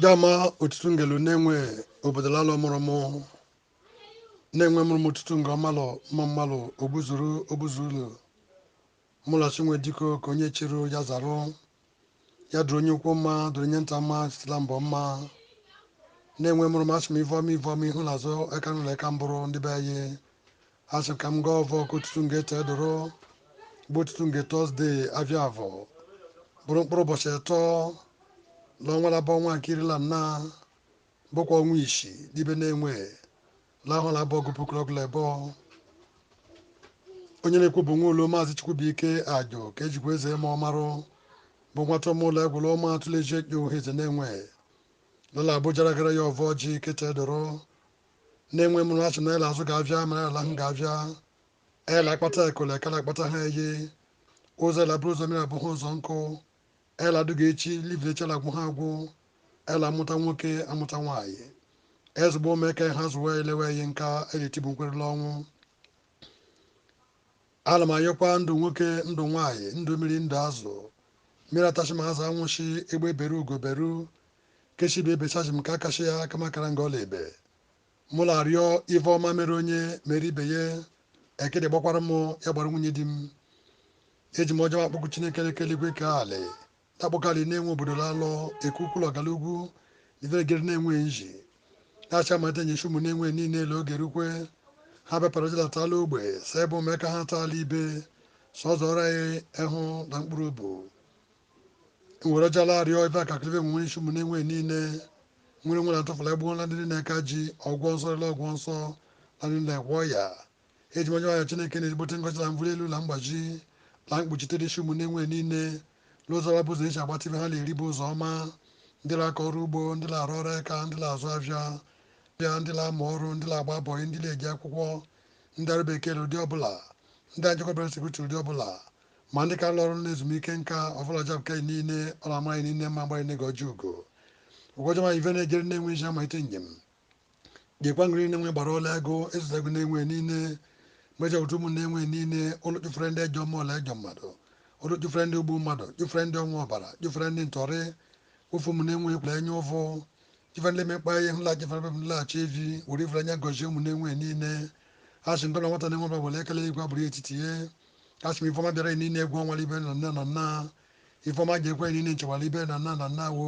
dama otutu ngelu Nenwe obodo lalọ mụrụ mụ Nenwe mụrụ m otutu nga ọmalụ mma mmalụ ogbuzuru ogbuzuru mụlachi nwe diko ka onye chịrị ya zarụ ya dụrụ onye ukwu mma dụrụ onye nta mma site la mbọ mma Nenwe mụrụ m asị m ive ọma ive ọma ihu la azụ aka nụlọ aka mbụrụ ndị be anyị Asị m ka m gọọ ọvọ ka otutu nge tee doro, bụ otutu nge Tọzde avia avọ, bụrụ mkpụrụ ụbọchị etọ la ọnwa labọ ọnwa nke iri la nna, bụkwa ọnwa ishi n'ibe Nenwe la ahọ labọ ọgụ puku la ọgụ la ebọ. Onye na-ekwu bụ nwa ụlo Maazị Chukwubuike Ajo ka ejikwa eze eme ọmarụ, bụ nwata ọmụụlọ egwụlụ ọma atụleji ekpe Uhueze Nenwe lala abụ jara gara ya ọvọ ji kete doro, Nenwe mụrụ asị na ele azụga avịa mara ala ahụ ga avịa ele akpata ekole kara akpata ha eye ụzọ ele bụrụ ụzọ mmiri abụ ha ụzọ nkụ ele adụga echi le ive echi la agwụ ha agwụ ele amụta nwoke amụta nwaanyị ezigbo omeke ha zụwa elewe ihe nka eletibu nkwere la ọnwụ Ala m ayọkwa ndụ nwoke, ndụ nwaanyị, ndụ mmiri, ndụ azụ, mmiri atashi ma azụ anwụshị, egbe beru ugo beru, ke shi ibe bechashi nku akwashi ya kama kara nga ọ la-ebe. Mụ la-arịọ ive ọma mere onye, mere ibe ye, ekịdị gbakwara mụ, ya gbara nwunye di m. Eji m ọjị m akpọku Chineke le kee eligwe kee alị, Takpokali Nenwe obodo lalọ, Ekukwulu ọgala ugwu, Iveregeri Nenwe iji, Asị amalite nye ishi ụmụ Nenwe niile ele oge rukwe, ha bịa parajila taala ogbe, sa ebe ụmụ eka ha taala ibe, sọzọ ọra ya ehụ la mkpụrụ obu. Nwere ja la-arịọ ife akaklive nwe nwere ishi ụmụ Nenwe niile, nwere nwere atụfụla egbuola ndị niile eka ji, ọgwọ nsọ rịla ọgwọ nsọ, na niile gwọ ya. Eji m ọjị m ayọ Chineke na ezigbote ngọzi la mvuli elu la mgbaji na mkpuchite n'ishi ụmụ Nenwe niile lozara bụ ụzọ eji agbata ive ha na-eri bụ ụzọ ọma ndị na-akọ ọrụ ugbo ndị na-arụ ọrụ aka ndị na-azụ avịa ndị na-amụ ọrụ ndị na-agba bọyị ndị na-eje akwụkwọ ndị ọrụ bekee ụdị ọbụla ndị anjekọbara sekuriti ụdị ọbụla ma ndị ka lụ ọrụ na ezumike nka ọbụla jab kei niile ọ na-amaghị niile mma mgbaghị nego ọjọọ ugo ụgwọjọma ive na-ejere Nenwe iji amalite njem gekwa ngiri Nenwe gbara ọla ego ịzụta ego Nenwe niile meja ụtụ ụmụ Nenwe niile ụlọ chụfere ndị ejọ mmụọ la ejọ mmadụ ụlọ chụfere ndị ogbu mmadụ chụfere ndị ọṅụ ọbara chụfere ndị ntọrị ofu ụmụ Nenwe ekwula enye ụfụ chụfere ndị mekpa ihe hụla chụfere bebụ nlaghachi evi were ifere anya gọzie ụmụ Nenwe niile a sị ngọna nwata Nenwe ọbụla were ekele igwe abụrụ etiti ya a sị m ifeọma bịara niile egwu ọnwara ibe na nna na nna ifeọma ji ekwe niile nchewara ibe na nna na nna wo